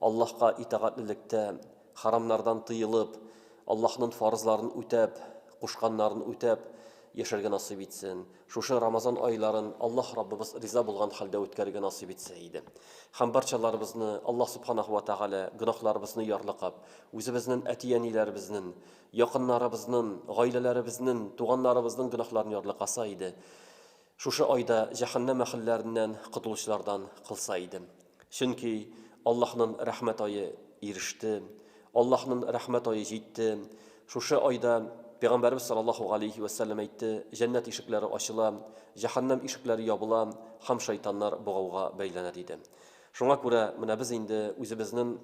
Аллаһка итагатьлелектә, харамнардан тыелып, Аллаһнын фарызларын үтәп, кушканнарын үтәп яшәргә насыйп итсен. Шушы Рамазан айларын Аллаһ Раббыбыз риза булган хәлдә үткәрергә насыйп итсә иде. Һәм барчаларыбызны Аллаһ Субханаһу ва Тәгалә гөнаһларыбызны ярлыкап, үзебезнен әти-әниләребезнен, якыннарыбызнын, гаиләләребезнен, туганнарыбызның гөнаһларын ярлыкаса иде. Шушы айда җәһәннәм әһелләреннән котылучылардан кылса идем. Чөнки Аллаһнын рәхмәт ае иреште, Аллаһнын рәхмәт ае җитте. Шушы айда Пәйгамбәребез саллаллаһу галәйһи вә сәлләм әйтте, Җәннәт ишекләре ачыла, җәһәннәм ишекләре ябыла һәм шайтаннар богауга бәйләнә, диде. Шуңа күрә менә без инде үзебезнен.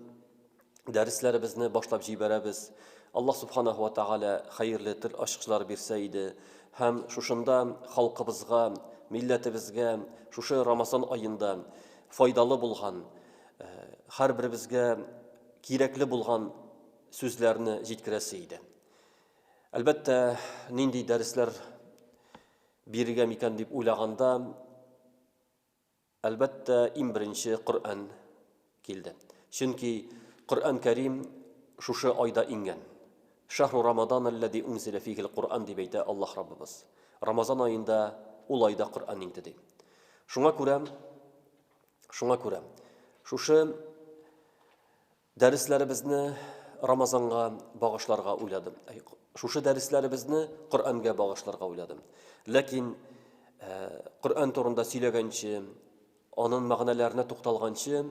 дәресләребезне башлап җибәрәбез. Аллаһ Субханаһу ва Тәгалә хәерле тел ачкычлар бирсә иде һәм шушында халкыбызга, милләтебезгә шушы Рамазан аенда файдалы булган, һәрберебезгә кирәкле булган сүзләрне җиткерәсе иде. Әлбәттә, нинди дәресләр бирергә микән дип уйлаганда, Әлбәттә, иң беренче Коръән килде. Чөнки Коръән Кәрим шушы айда иңгән. Шәһру Рамадан әлләзи унзилә фигел Коръән дип әйтә Аллаһ Раббыбыз. Рамазан аенда, ул айда Коръән иңде ди. Шуңа күрә, шуңа күрә, шушы Дәресләребезне Рамазанга багышларга уйладым. Шушы дәресләребезне Коръәнгә багышларга уйладым. Ләкин Коръән турында сөйләгәнче, аның мәгънәләренә тукталганчы,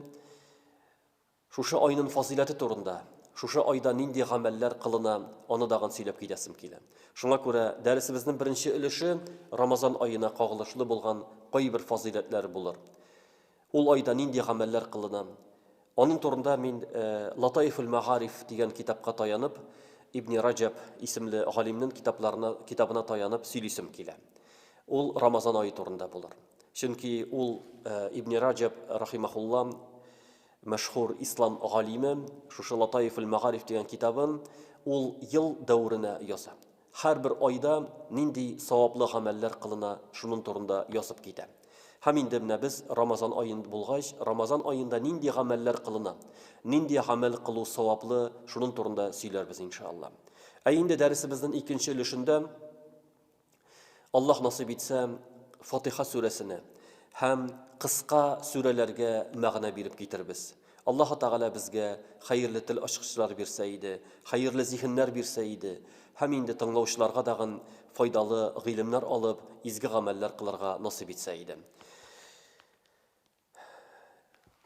шушы айның фазыйләте турында, шушы айда нинди гамәлләр кылына, аны дагын сөйләп китәсем килә. Шуңа күрә дәресебезнең беренче өлеше Рамазан аена кагылышлы булган кайбер фазыйләтләр булыр. Ул айда нинди гамәлләр кылына? Аның турында мин Латаифуль-мәгариф дигән китапка таянып, Ибни Раҗәб исемле галимнен китапларына китабына таянып сөйлисем килә. Ул Рамазан ае турында булыр. Чөнки ул Ибни Раҗәб рахимахулла мәшһүр ислам галиме шушы Латаифуль-мәгариф дигән китабын ул ел дәверенә яза. Һәрбер айда нинди саваплы гамәлләр кылына, шунын турында язып китә. Һәм инде менә без Рамазан аен булгач, Рамазан аенда нинди гамәлләр кылына, нинди гамәл кылу саваплы, шунын турында сөйләрбез иншаАлла. Ә инде дәресебезнен икенче өлешендә, Аллаһ насыйп итсә, Фатыйха сүрәсенә һәм кыска сүрәләргә мәгънә биреп китербез. Аллаһы Тәгалә безгә хәерле тел ачкычлары бирсә иде, хәерле зиһеннәр бирсә иде, һәм инде тыңлаучыларга дагын файдалы гыйлемнәр алып, изге гамәлләр кылырга насыйп итсә иде.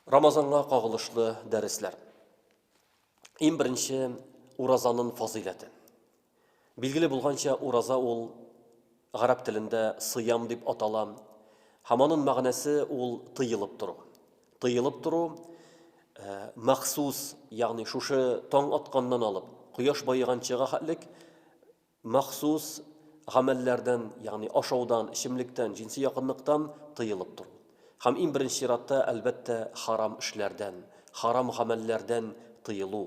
Рамазанга кагылышлы дәресләр. Иң беренче, уразанын фазыйләте. Билгеле булганча, ураза ул гарәп телендә сыям дип атала һәм анын мәгънәсе ул тыелып тору. Тыелып тору э, махсус, ягъни шушы таң атканнан алып, кояш баеганчыга хәтлек махсус гамәлләрдән, ягъни ашаудан, эчемлектән, җинси якынлыктан тыелып тору. Һәм иң беренче чиратта, әлбәттә, харам эшләрдән, харам гамәлләрдән тыелу.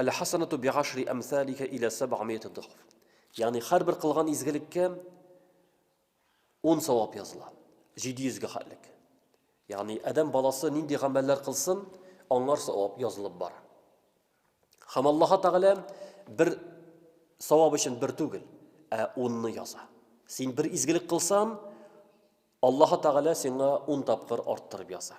Әлхәсәнәтү бигашри әмсәликә илә сәбгамиәте дохф. Ягъни һәрбер кылган изгелеккә ун савап языла. 700 гә хәтлек. Ягъни адәм баласы нинди гамәлләр кылсын, аңар савап язылып бара. Хәм Аллаһ Тәгалә бер савап өчен бер түгел, ә унны яза. Син бер изгелек кылсан, Аллаһ Тәгалә сиңа ун тапкыр арттырып яза.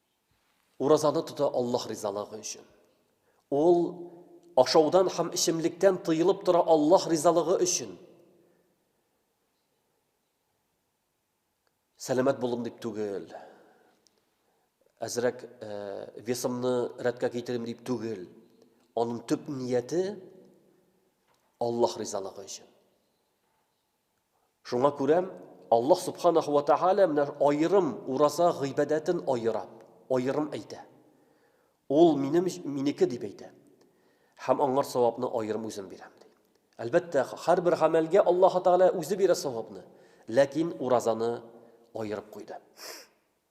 Уразаны тота Аллаһ ризалыгы өчен. Ул ашаудан һәм эчемлектән тыелып тора Аллаһ ризалыгы өчен. Сәламәт булым дип түгел. Әзрәк э, весымны рәткә китерим дип түгел. Аның төп нияте Аллаһ ризалыгы өчен. Шуңа күрә Аллаһ Субханаһу ва Тәгалә менә аерым ураза гыйбадәтен аера, аерым әйтә. Ул минем, минеке дип әйтә. Һәм аңар савапны аерым үзем бирәм, ди. Әлбәттә, һәрбер гамәлгә Аллаһы Тәгалә үзе бирә савапны, ләкин уразаны аерып куйды.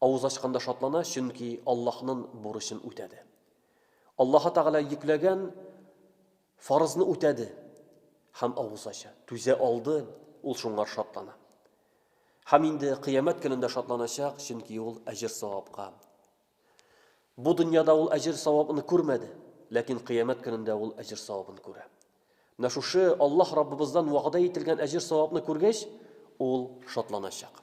Авыз ачканда шатлана, чөнки Аллаһнын бурычын үтәде. Аллаһы Тәгалә йөкләгән фарызны үтәде һәм авыз ача. Түзә алды, ул шуңар шатлана. Һәм инде кыямәт көнендә шатланачак, чөнки ул әҗер савапка. Бу дөньяда ул әҗер савабын күрмәде, ләкин кыямәт көнендә ул әҗер савабын күрә. Менә шушы Аллаһ Раббыбыздан вәгъдә ителгән әҗер савапны күргәч, ул шатланачак.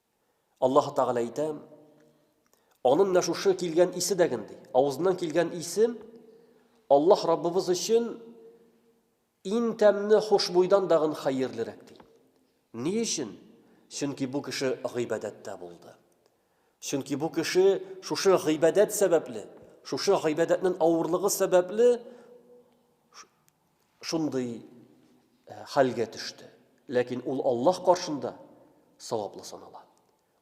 Аллаһ Тәгалә әйтә, Аның менә шушы килгән исе дәген ди. Авызыннан килгән исе Аллаһ Раббыбыз өчен иң тәмне хушбуйдан дагын хәерлерәк ди. Ни өчен? Чөнки бу кеше гыйбадәттә булды. Чөнки бу кеше шушы гыйбадәт сәбәпле, шушы гыйбадәтнең авырлыгы сәбәпле шундый хәлгә төште. Ләкин ул Аллаһ каршында саваплы санала.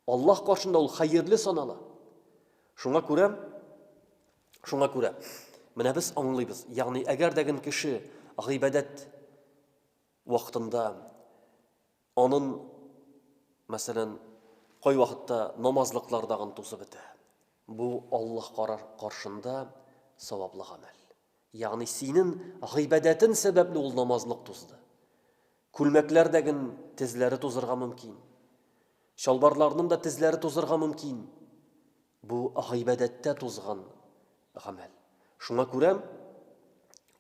Аллаһ каршында ул хәерле санала. Шуңа күрә шуңа күрә менә без аңлыйбыз. Ягъни әгәр дә кеше гыйбадәт вакытында Анын, мәсәлән, кайвакытта намазлыклар дагын тузып бетә. Бу Аллаһ карар каршында саваплы гамәл. Ягъни синен гыйбадәтен сәбәпле ул намазлык тузды. Күлмәкләр дәген тезләре тузырга мөмкин. Чалбарларнын да тезләре тузырга мөмкин. Бу гыйбадәттә тузган гамәл. Шуңа күрә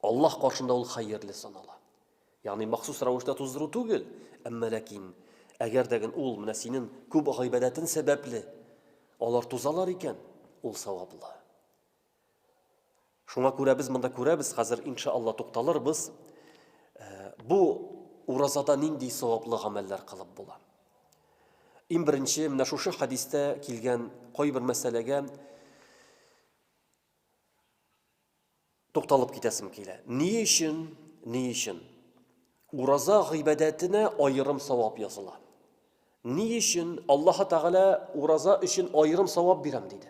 Аллаһ каршында ул хәерле санала. Ягъни махсус рәвештә туздыру түгел, әмма ләкин әгәр дә гел ул менә синең күп гыйбадәтең сәбәпле алар тузалар икән, ул саваплы. Шуңа күрә без монда күрәбез, хәзер иншаалла тукталырбыз. Э, бу уразада нинди саваплы гамәлләр кылып була? Иң беренче, менә шушы хәдистә килгән кайбер мәсьәләгә тукталып китәсем килә. Ни өчен, ни өчен ураза гыйбадәтенә аерым савап языла? Ни өчен Аллаһ Тәгалә ураза өчен аерым савап бирәм диде?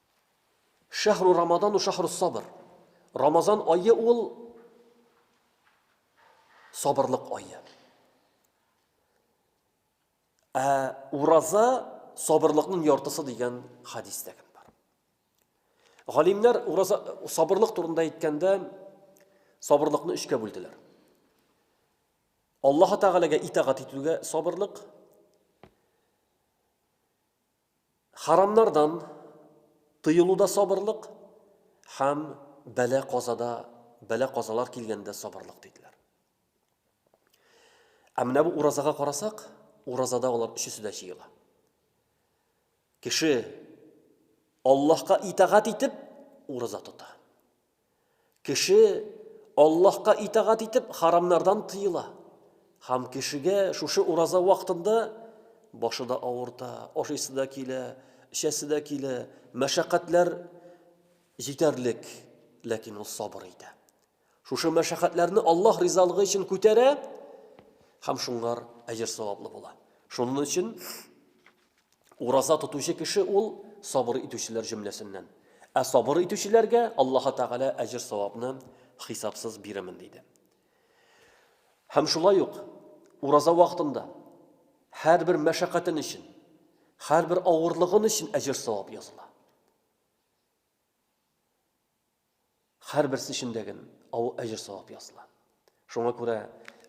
Шәһру Рамадану шәһрус сабр. Рамазан ае ул сабырлык ае. Ә ураза сабырлыкның яртысы дигән хадис тә бар. Галимнәр ураза сабырлык турында әйткәндә сабырлыкны өчкә бүлделәр. Аллаһ Тәгаләгә итагать итүгә сабырлык, Харамнардан тыелуда сабырлык һәм бәла-казада, бәла-казалар килгәндә сабырлык диделәр. Ә менә бу уразага карасак, уразада алар өчесе дә җыела. Кеше Аллаһка итагать итеп ураза тота. Кеше Аллаһка итагать итеп харамнардан тыела. Һәм кешегә шушы ураза вакытында башы да авырта, ашыйсы да килә, эчәсе дә килә, мәшәкатьләр җитәрлек, ләкин ул сабыр итә. Шушы мәшәкатьләрне Аллаһ ризалыгы өчен күтәрә һәм шуңар әҗер-саваплы була. Шуның өчен Ураза тотучы кеше ул сабыр итүчеләр җөмләсеннән. Ә сабыр итүчеләргә Аллаһы Тәгалә әҗер-савапны хисапсыз бирәмен диде. Һәм шулай ук ураза вакытында һәрбер мәшәкатен өчен, һәрбер авырлыгын өчен әҗер-савап языла. Хәрберсе өчен дәген авы әҗер-савап языла. Шуңа күрә,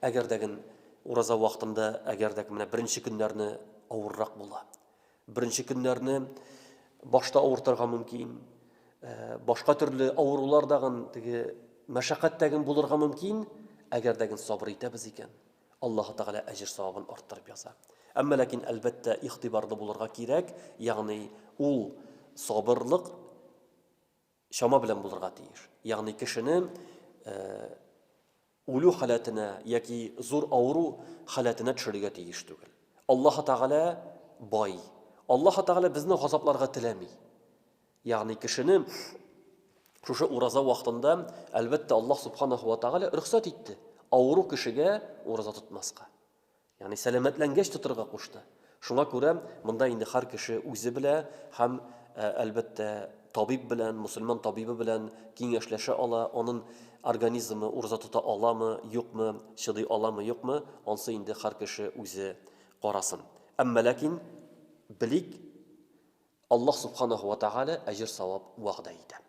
әгәр дәген ураза вакытында, әгәр дәк менә беренче көннәрне авыррак була. Беренче көннәрне башта авыртырга мөмкин, э, башка төрле авырулар дагын теге мәшәкать дәген булырга мөмкин, әгәр дәген сабыр итәбез икән, Аллаһу Тәгалә әҗер савабын арттырып яза. Әмма ләкин әлбәттә игътибарлы булырга кирәк, ягъни ул сабырлык чама белән булырга тиеш. Ягъни кешене үлү халәтенә яки зур авыру халәтенә төшерергә тиеш түгел. Аллаһ Тәгалә бай. Аллаһ Тәгалә безне газапларга теләми. Ягъни кешене шушы ураза вакытында, әлбәттә, Аллаһ Субханаһу ва Тәгалә рөхсәт итте. Авыру кешегә ураза тотмаска. Ягъни сәламәтләнгәч тотырга кушты. Шуңа күрә монда инде һәр кеше үзе белә һәм, ә, әлбәттә, табиб белән, мөселман табибы белән киңәшләшә ала, анын организмы ураза тота аламы, юкмы, чыдый аламы, юкмы, ансы инде һәр кеше үзе карасын. Әмма ләкин белик, Аллаһ Субханаһу ва Тәгалә әҗер-савап вәгъдә итә.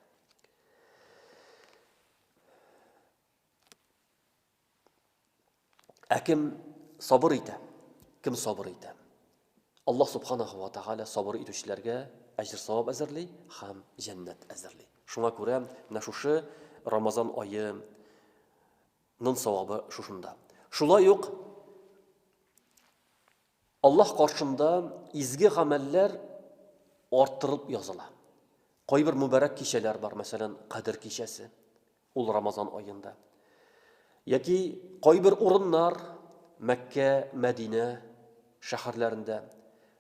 Ә кем сабыр итә? Кем сабыр итә? Аллаһ субханаһу ва тааля сабыр итүчеләргә әҗр савап әзерли һәм җәннәт әзерли. Шуңа күрә менә шушы Рамазан айы нын савабы шушында. Шулай ук Аллаһ каршында изге гамәлләр арттырылып языла. Кайбер мөбарәк кичәләр бар, мәсәлән, Кадер кичәсе. Ул Рамазан аенда. Яки кайбер урыннар Мәккә, Мәдинә шәһәрләрендә,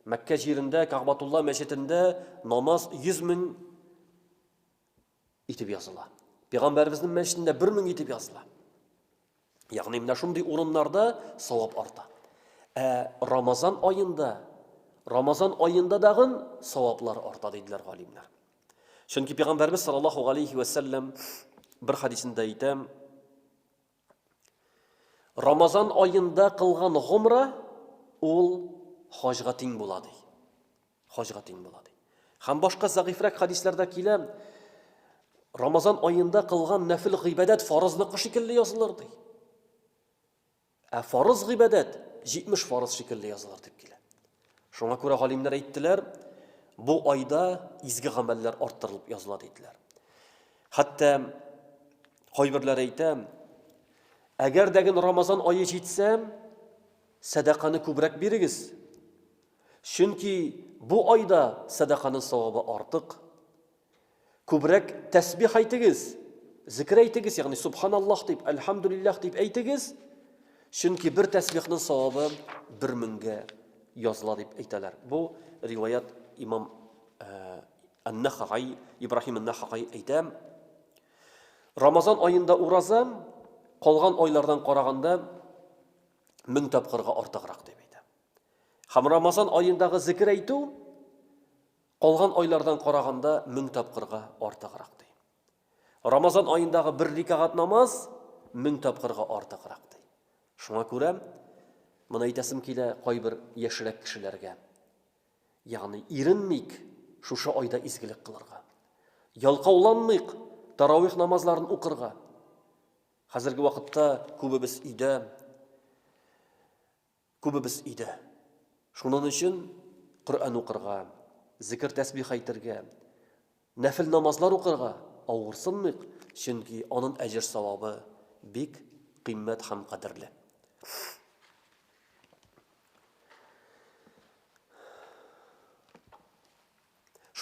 Мәккә җирендә Кагъбатулла мәчетендә намаз 100 мең итеп языла. Пәйгамбәребезнең мәчетендә 1000 итеп языла. Ягъни менә шундый урыннарда савап арта. Ә Рамазан аенда, Рамазан аенда дагын саваплар арта диделәр галимнәр. Чөнки Пәйгамбәребез саллаллаху алейхи ва саллям бер хадисендә әйтә, Рамазан аенда кылган гомра ул хаҗга тиң була ди. Хаҗга тиң була ди. Һәм башка зәгыйфрәк хадисларда килә, Рамазан аенда кылган нәфил гыйбадәт фарызлыкы шикелле язылыр ди. Ә фарыз гыйбадәт 70 фарыз шикелле язылыр дип килә. Шуңа күрә галимнәр әйттеләр, бу айда изге гамәлләр арттырылып языла диделәр. Хәтта кайберләр әйтә, әгәр дә гел Рамазан ае җитсә, сәдаканы күбрәк бирегез. Чөнки бу айда сәдаканың савабы артык. Күбрәк тәсбих әйтегез, зикер әйтегез, ягъни субханаллаһ дип, әлхәмдүлилләһ дип әйтегез, чөнки бер тәсбихның савабы бер меңгә языла дип әйтәләр. Бу риваят имам э, Ан-Нахагай, Ибраһим Ан-Нахагай әйтә. Рамазан аенда ураза калган айлардан караганда мең тапкырга артыграк дип әйтә. Һәм Рамазан аендагы зикер әйтү Калган айлардан караганда мең тапкырга артыграк, ди. Рамазан аендагы бер рикагать намаз мең тапкырга артыграк, ди. Шуңа күрә моны әйтәсем килә кайбер яшьрәк кешеләргә. Ягъни иренмик шушы айда изгелек кылырга. Ялкауланмыйк тарауих намазларын укырга. Хәзерге вакытта күбебез өйдә. Күбебез өйдә. Шунын өчен Коръән укырга, зикер-тәсбих әйтергә, нәфел намазлар укырга авырсынмыйк, чөнки анын әҗер-савабы бик кыйммәт һәм кадерле.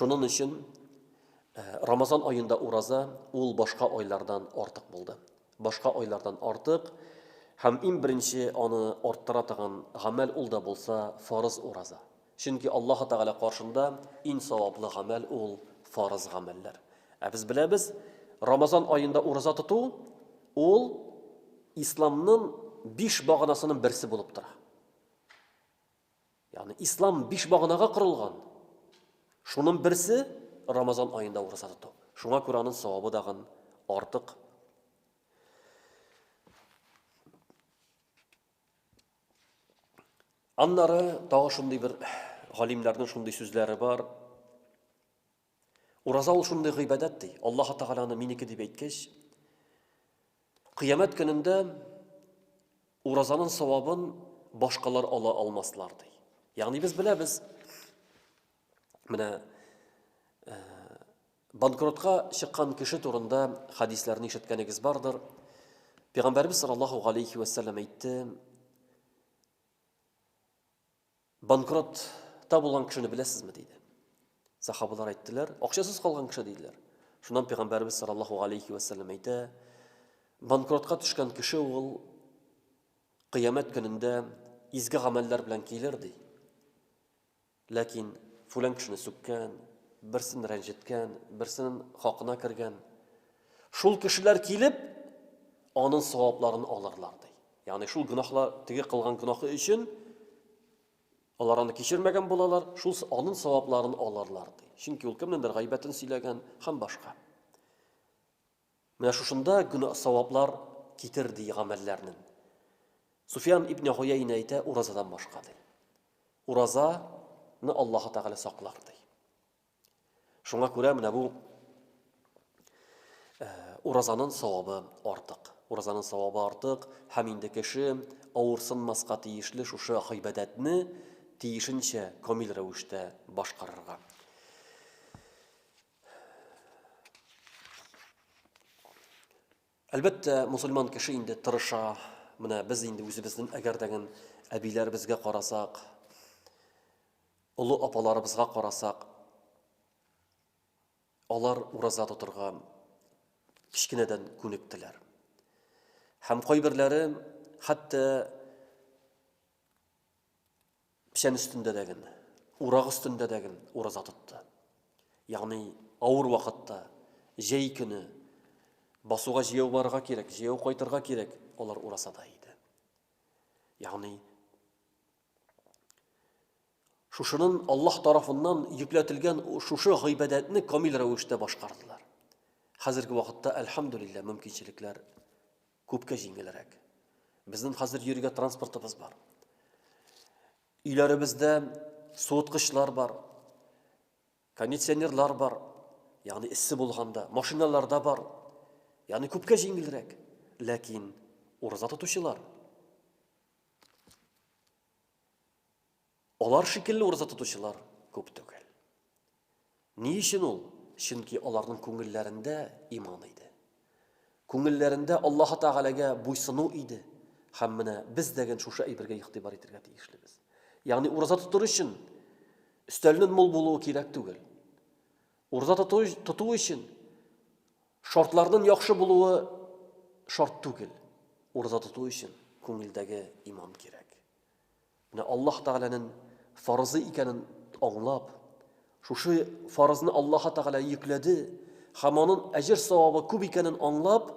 Шунын өчен Рамазан аенда ураза ул башка айлардан артык булды. Башка айлардан артык һәм иң беренче аны арттыра торган гамәл ул да булса фарыз ураза. Чөнки Аллаһ Тәгалә каршында иң саваплы гамәл ул фарыз гамәлләр. Ә без беләбез, Рамазан аенда ураза тоту ул исламның биш баганасының берсе булып тора. Ягъни ислам биш баганага корылган. Шуның берсе Рамазан аенда ураза тоту. Шуңа күрә аның савабы дагын артык. Аннары тагы шундый бер галимнәрнең шундый сүзләре бар. Ураза ул шундый гыйбадәт, ди. Аллаһы Тәгалә аны минеке дип әйткәч, кыямәт көнендә уразаның савабын башкалар ала алмаслар, ди. Ягъни без беләбез, менә э, банкротка чыккан кеше турында хадисләрне ишеткәнегез бардыр. Пәйгамбәрбез саллаллаһу алейхи ва әйтте, Банкротта булган кешене беләсезме? диде. Сахабалар әйттеләр, акчасыз калган кеше диделәр. Шуннан пәйгамбәрбез саллаллаһу алейхи ва саллям әйтә, банкротка төшкән кеше ул кыямәт көнендә изге гамәлләр белән килер ди. Ләкин фулан кешене сүккән, берсен рәнҗеткән, берсен хакына кергән. Шул кешеләр килеп, аның савапларын алырлар ди. Ягъни шул гөнаһлар, теге кылган гөнаһы өчен алар аны кичермәгән булалар, шул анын савапларын аларлар, ди. Чөнки ул кемнендер гайбәтен сөйләгән һәм башка. Менә шушында гөнаһ саваплар китер ди гамәлләрнең. Суфиан ибн Гуяйна әйтә, уразадан башка ди. Уразаны Аллаһ Тәгалә саклар ди. Шуңа күрә менә бу уразаның савабы артык. Уразаның савабы артык һәм инде кеше авырсынмаска тиешле шушы гыйбадәтне тиешенчә камил рәвештә башкарырга. Әлбәттә, мусульман кеше инде тырыша. Менә без инде үзебезнең әгәрдәген әбиләребезгә карасак, Олы апаларыбызга карасак, алар ураза тотырга кечкенәдән күнектеләр. Һәм кайберләре хәтта печән өстендә дә генә, урак өстендә дә генә ураза тотты. Ягъни авыр вакытта, җәй көне басуга җәяү барырга кирәк, җәяү кайтырга кирәк, алар уразада иде. Ягъни Шушынын Аллаһ тарафыннан йөкләтелгән шушы гыйбадәтне камил рәвештә башкардылар. Хәзерге вакытта, әлхәмдүлилләһ, мөмкинчелекләр күпкә җиңелрәк. Безнең хәзер йөрергә транспортыбыз бар. Өйләребездә суыткычлар бар, кондиционерлар бар, ягъни эссе булганда, машиналарда бар. Ягъни күпкә җиңелрәк. Ләкин ураза тотучылар Алар шикелле ураза тотучылар күп түгел. Ни өчен ул? Чөнки аларның күңелләрендә иман иде. Күңелләрендә Аллаһ Тәгаләгә буйсыну иде. Һәм менә без дәген шушы әйбергә игътибар итәргә тиешлебез. Ягъни ураза тотыр өчен өстәлнен мул булуы кирәк түгел. Ураза тоту, тоту өчен шартларның яхшы булуы шарт түгел. Ураза тоту өчен күңелдәге иман кирәк. Менә Аллаһ Тәгаләнең фарызы икәнен аңлап, шушы фарызны Аллаһ Тәгалә йөкләде һәм аның әҗер савабы күп икәнен аңлап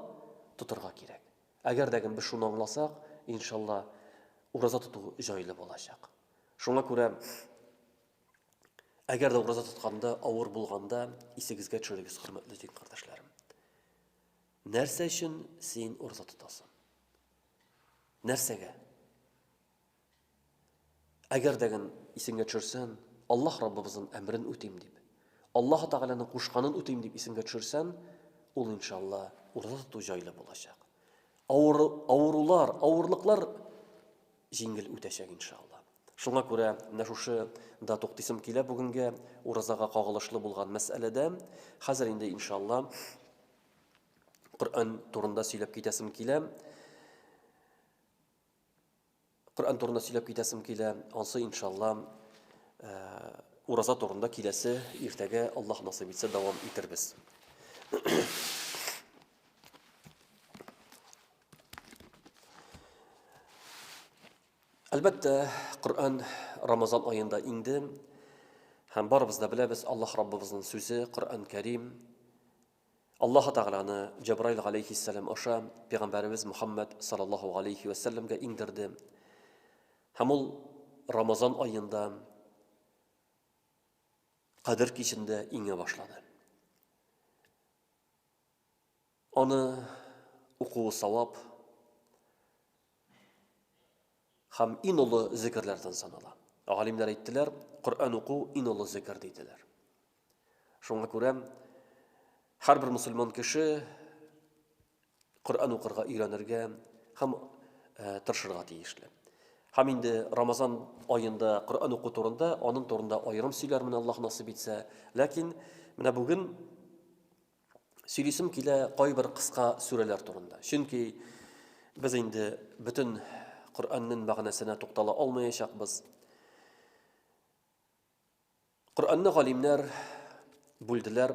тотырга кирәк. Әгәр дә без шуны аңласак, иншалла, ураза тоту җайлы булачак. Шуңа күрә Әгәр дә ураза тотканда, авыр булганда, исегезгә төшерегез, хөрмәтле дин кардәшләрем. Нәрсә өчен син ураза тотасың? Нәрсәгә? Әгәр дә гын исеңгә төшерсәң, Аллаһ Раббыбызның әмрен үтим дип, Аллаһ Тәгаләнең кушканын үтим дип исеңгә төшерсәң, ул иншалла ураза тоту җайлы булачак. Авыр, авырулар, авырлыклар җиңел үтәчәк иншалла. Шуңа күрә менә шушы да туктыйсым килә бүгенге уразага кагылышлы булган мәсьәләдә. Хәзер инде иншалла Коръән турында сөйләп китәсем килә. Коръән турында сөйләп китәсем килә. Ансы иншалла ураза турында киләсе иртәгә Аллаһ насыйп итсә дәвам итербез. Әлбәттә, Коръән Рамазан аенда инде. Һәм барыбыз да беләбез, Аллаһ Раббыбызның сүзе, Коръән Кәрим, Аллаһ Тәгаләне Җабраил галәйһиссәлам аша пәйгамбәребез Мөхәммәд саллаллаһу алейхи ва сәлләмгә иңдерде. Һәм ул Рамазан аенда Кадер кичендә иңә башлады. Аны укуы савап һәм иң олы зикерләрдән санала. Галимнәр әйттеләр, Коръән уку иң олы зикер диделәр. Шуңа күрә һәрбер мусульман кеше Коръән укырга өйрәнергә һәм э, тырышырга тиешле. Һәм инде Рамазан аенда Коръән уку турында, аның турында аерым сөйләрмен Аллаһ насыйп итсә. Ләкин менә бүген сөйлисем килә кайбер кыска сүрәләр турында. Чөнки без инде бөтен Коръәннең мәгънәсенә туктала алмаячакбыз. Коръәнне галимнәр бүлделәр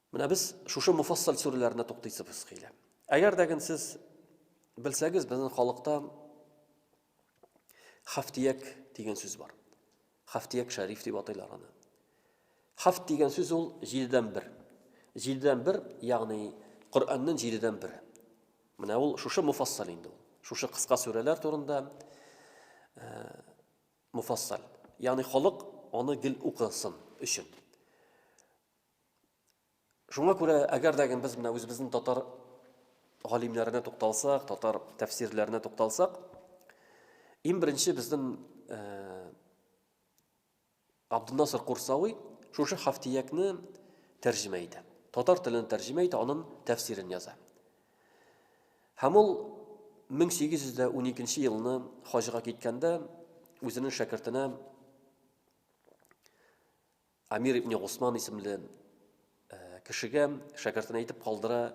Менә без шушы муфассал сүреләренә туктыйсыбыз килә. Әгәр дә гын сез белсәгез, безнең халыкта хафтияк дигән сүз бар. Хафтияк шәриф дип атыйлар аны. Хафт дигән сүз ул җидедән бер. Җидедән бер, ягъни Коръәннең җидедән бере. Менә ул шушы муфассал инде ул. Шушы кыска сүрәләр турында э, муфассал. Ягъни халык аны гел укысын өчен. Шуңа күрә, әгәр дә без менә үзебезнең татар галимнәренә тукталсак, татар тәфсирләренә тукталсак, иң беренче безнең э, Абдунасыр Курсавый шушы хафтиякне тәрҗемә итә. Татар телен тәрҗемә итә, аның тәфсирен яза. Һәм ул 1812 елны хаҗга киткәндә үзенең шәкертенә Амир ибне Госман исемле кешегә шәкертен әйтеп калдыра,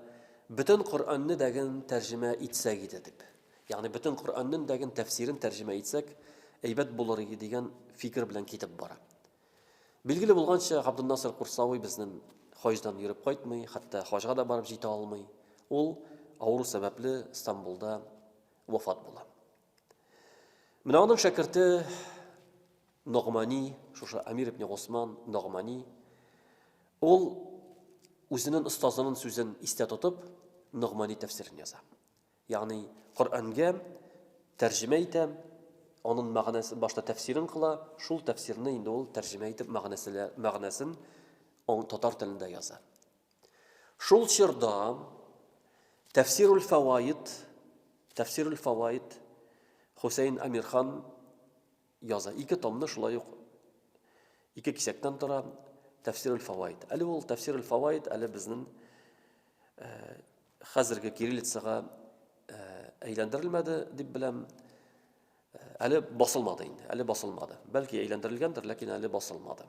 бөтен Коръәнне дәген тәрҗемә итсәк иде дип. Ягъни бөтен Коръәннең дәген тәфсирен тәрҗемә итсәк, әйбәт булыр иде дигән фикер белән китеп бара. Билгеле булганча, Габдулнасыр Курсавый безнең хаҗдан йөреп кайтмый, хәтта хаҗга да барып җитә алмый. Ул авыру сәбәпле Стамбулда вафат була. Менә аның шәкерте Ногмани, шушы Амир ибн Госман Ногмани, ул үзенең остазының сүзен истә тотып, Ногмани тәфсирен яза. Ягъни Коръәнгә тәрҗемә итә, аның мәгънәсе башта тәфсирен кыла, шул тәфсирне инде ул тәрҗемә итеп мәгънәсен мәгънәсен татар телендә яза. Шул чорда Тәфсирул фәваид, Тәфсирул фәваид Хусейн Амирхан яза. Ике томны шулай ук ике кисәктән тора Тәфсирул фәваид. Әле ул Тәфсирул фәваид әле безнең э, хәзерге кириллицага э, әйләндерелмәде дип беләм. Э, әле басылмады инде, әле басылмады. Бәлки әйләндерелгәндер, ләкин әле басылмады.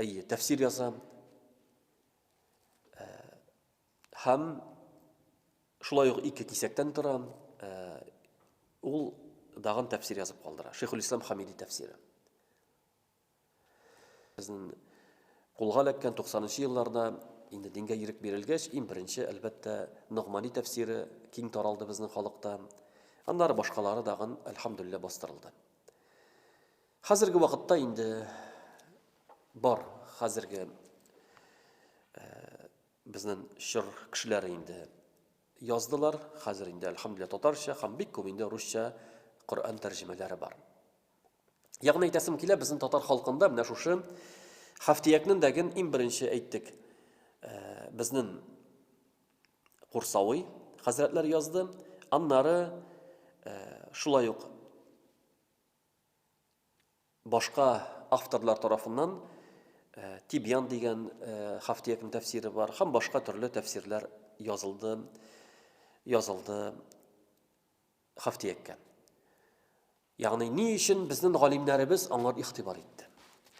Әйе, тәфсир язам. Э, һәм шулай ук ике кисәктән торам. Э, ул дагын тәфсир язып калдыра. Шейхул Ислам Хамиди тәфсире. Безнең кулга эләккән 90 елларда инде дингә ирек бирелгәч, иң беренче, әлбәттә, Ногмани тәфсире киң таралды безнең халыкта. Аннары башкалары дагын, әлхамдулилла, бастырылды. Хәзерге вакытта инде бар, хәзерге безнең чор кешеләре инде яздылар, хәзер инде әлхәмдүлилләһ татарча һәм бик күп инде русча Коръән тәрҗемәләре бар. Ягъни әйтәсем килә, безнең татар халкында менә шушы Хафтиякнең дәген иң беренче әйттек. Э, безнең Курсавый хәзрәтләр язды. Аннары э, шулай ук Башка авторлар тарафыннан Тибьян дигән Хафтиякнең тәфсире бар һәм башка төрле тәфсирләр язылды, язылды Хафтияккә. Ягъни ни өчен безнең галимнәребез аңар игътибар итте?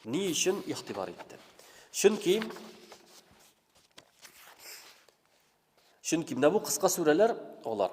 Ни өчен игътибар итте? Чөнки Чөнки менә бу кыска сүрәләр алар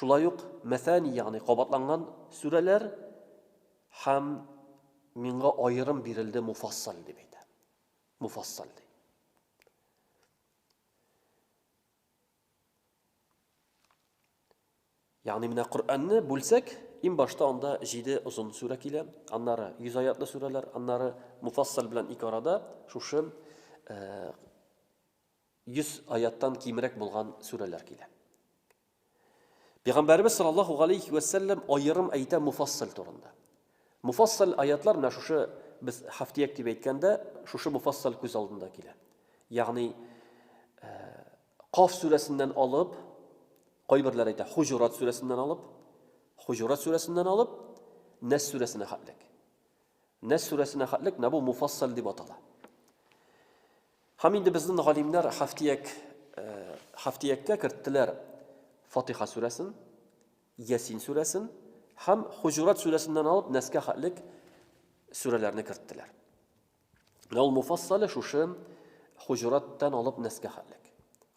Шулай ук мәсани, ягъни кабатланган сүрәләр һәм миңа аерым бирелде муфассаль дип әйтә. Муфассаль ди. Ягъни менә Коръәнне бүлсәк, иң башта анда 7 озын сүрә килә, аннары 100 аятлы сүрәләр, аннары муфассал белән ике арада шушы э, 100 аяттан кимрәк булган сүрәләр килә. Пәйгамбәребез саллаллаһу галәйһи вә сәлләм аерым әйтә муфассал турында. Муфассал аятлар менә шушы без хафтияк дип әйткәндә, шушы муфассал күз алдында килә. Ягъни э, Каф сүрәсеннән алып, кайберләр әйтә, Хуҗурат сүрәсеннән алып, Хуҗурат сүрәсеннән алып, Нәс сүрәсенә хәтлек. Нәс сүрәсенә хәтлек менә бу муфассал дип атала. Һәм инде безнең галимнәр хафтияк хафтияккә керттеләр Фатиха сүрәсен, Ясин сүрәсен һәм Хуҗурат сүрәсеннән алып Нәскә хәтлек сүрәләрне керттеләр. Ял муфассалы шушы хуҗураттан алып нәскә хәтлек.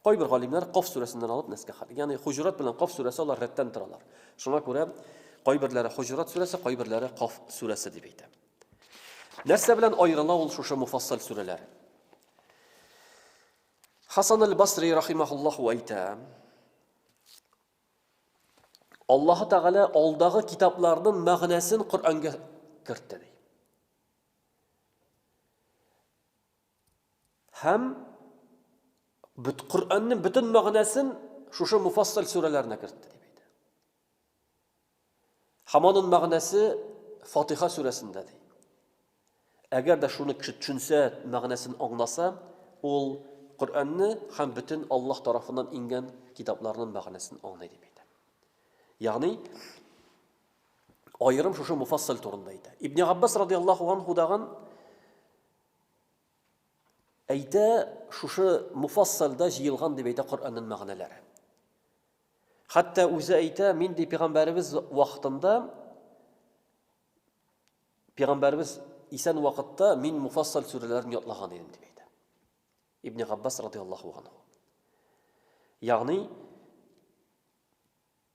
Кайбер галимнәр Каф сүрәсеннән алып нәскә хәтлек. Ягъни хуҗурат белән Каф сүрәсе алар рәттән торалар. Шуңа күрә кайберләре хуҗурат сүрәсе, кайберләре Каф сүрәсе дип әйтә. Нәрсә белән аерыла ул шушы муфассал сүрәләр? Хасан аль-Басри рахимахуллаху әйтә, Аллаһы Тәгалә алдагы китапларның мәгънәсен Коръәнгә кертте. Һәм бит Коръәннең бөтен мәгънәсен шушы муфассал сүрәләренә кертте дип әйтә. Һәм аның мәгънәсе Фатиха сүрәсендә ди. Әгәр дә шуны кеше төшенсә, мәгънәсен аңласа, ул Коръәнне һәм бөтен Аллаһ тарафыннан ингән китапларның мәгънәсен аңлый дип әйтә. Ягъни аерым шушы муфассал турында әйтә. Ибн Габбас радиаллаху анху даган әйтә, шушы муфассалда җыелган дип әйтә Коръәннең мәгънәләре. Хәтта үзе әйтә, мин ди пәйгамбәребез вакытында пәйгамбәребез исән вакытта мин муфассал сүрәләрен ятлаган идем дип әйтә. Ибн Габбас радиаллаху анху. Ягъни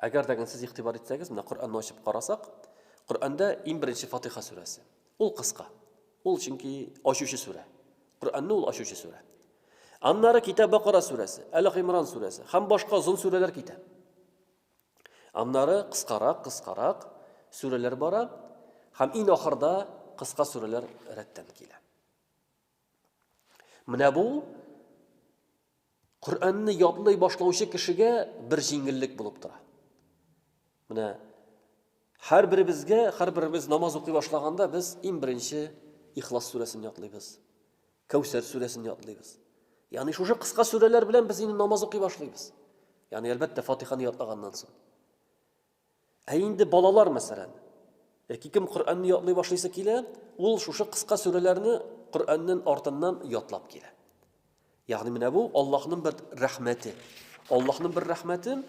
Әгәр дә сез игътибар итсәгез, менә Коръәнне ачып карасак, Коръәндә иң беренче Фатиха сүрәсе. Ул кыска. Ул чөнки ачучы сүрә. Коръәнне ул ачучы сүрә. Аннары китә Бакара сүрәсе, Әле Гимран сүрәсе һәм башка озын сүрәләр китә. Аннары кыскарак, кыскарак сүрәләр бара һәм иң ахырда кыска сүрәләр рәттән килә. Менә бу Коръәнне ятлый башлаучы кешегә бер җиңеллек булып тора. Менә һәр беребезгә, һәр беребез намаз укый башлаганда без иң беренче Ихлас сүрәсен ятлыйбыз. Кәүсәр сүрәсен ятлыйбыз. Ягъни шушы кыска сүрәләр белән без инде намаз укый башлыйбыз. Ягъни әлбәттә Фатиханы ятлаганнан соң. Ә инде балалар, мәсәлән, яки кем Коръәнне ятлый башлыйсы килә, ул шушы кыска сүрәләрне Коръәннән артыннан ятлап килә. Ягъни менә бу Аллаһның бер рәхмәте. Аллаһның бер рәхмәте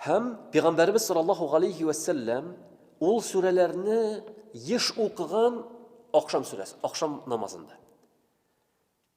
һәм Пәйгамбәрбез саллаллаһу алейхи ва саллям ул сүрәләрне еш укыган ахшам сүрәсе, ахшам намазында.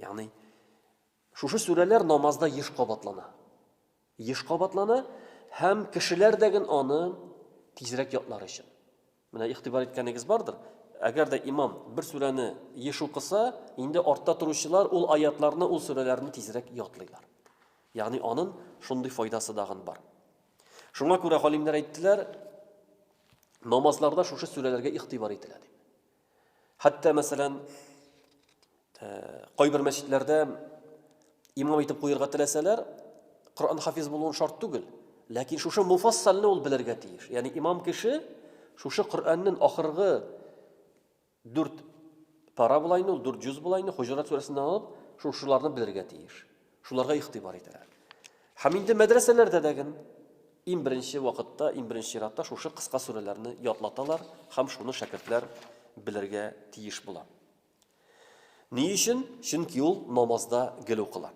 Ягъни шушы сүрәләр намазда еш кабатлана. Еш кабатлана һәм кешеләр дә ген аны тизрәк ятлар өчен. Менә игътибар иткәнегез бардыр. Әгәр дә имам бер сүрәне еш укыса, инде артта торучылар ул аятларны, ул сүрәләрне тизрәк ятлыйлар. Ягъни анын шундый файдасы дагын бар. Шуңа күрә галимнәр әйттеләр, намазларда шушы сүрәләргә игътибар ителә дип. Хәтта, мәсәлән, кайбер мәчетләрдә имам итеп куярга теләсәләр, Коръән хафиз булуын шарт түгел. Ләкин шушы муфассалны ул белергә тиеш. Ягъни имам кеше шушы Коръәннең ахыргы 4 пара булайны, ул 4 җүз булайны, Хуҗрат сүрәсеннән алып, шушыларны белергә тиеш. Шуларга игътибар итәләр. Һәм инде мәдрәсәләрдә дә ген иң беренче вакытта, иң беренче чиратта шушы кыска сүрәләрне ятлаталар һәм шуны шәкертләр белергә тиеш була. Ни өчен? Чөнки ул намазда гел укыла.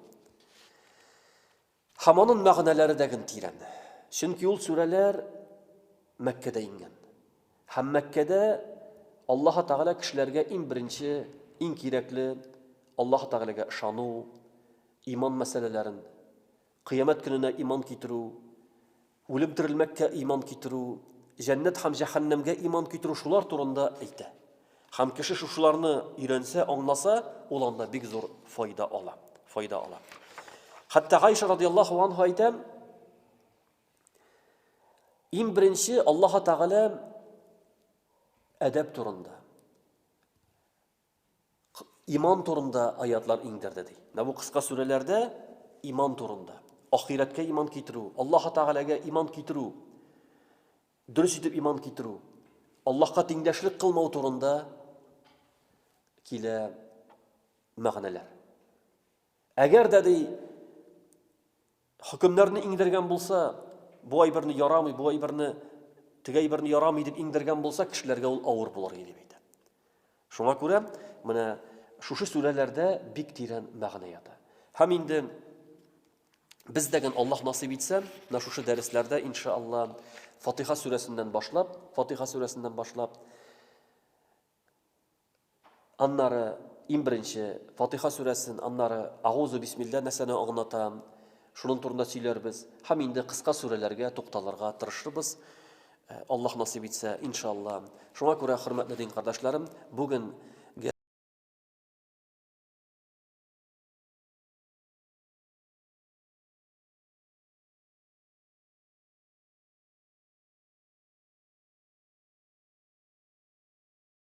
Һәм аның мәгънәләре дә ген тирән. Чөнки ул сүрәләр Мәккәдә иңгән. Һәм Мәккәдә Аллаһы Тәгалә кешеләргә иң беренче, иң кирәкле, Аллаһы Тәгаләгә ышану, иман мәсьәләләрен, Кыямәт көненә иман китерү, үлем-терелмәккә иман китерү, җәннәт һәм җәһәннәмгә иман китерү шулар турында әйтә. Һәм кеше шушыларны өйрәнсә, аңласа, ул анда бик зур файда ала, файда ала. Хәтта Гайша радиаллаһу анһа әйтә, Иң беренче Аллаһ Тәгалә әдәп турында. Иман турында аятлар иңдерде ди. Менә бу кыска сүрәләрдә иман турында. Ахиратка иман китерү, Аллаһ Тәгаләгә иман китерү, дөрес итеп иман китерү, Аллаһка тиңдәшлек кылмау турында килә мәгънәләр. Әгәр дә ди Хөкемнәрне иңдергән булса, бу әйберне ярамый, бу әйберне теге әйберне ярамый дип иңдергән булса, кешеләргә ул авыр булыр иде дип әйтә. Шуңа күрә менә шушы сүрәләрдә бик тирән мәгънә ята. Һәм инде Бездәген Аллаһ насыйп итсә, менә шушы дәресләрдә иншалла Фатиха сүрәсеннән башлап, Фатиха сүрәсеннән башлап Аннары, иң беренче, Фатыйха сүрәсен, аннары Агузу бисмилла нәрсәне аңлата, шуның турында сөйләрбез һәм инде кыска сүрәләргә тукталырга тырышырбыз, Аллаһ насыйп итсә, иншалла. Шуңа күрә, хөрмәтле дин кардәшләрем, бүген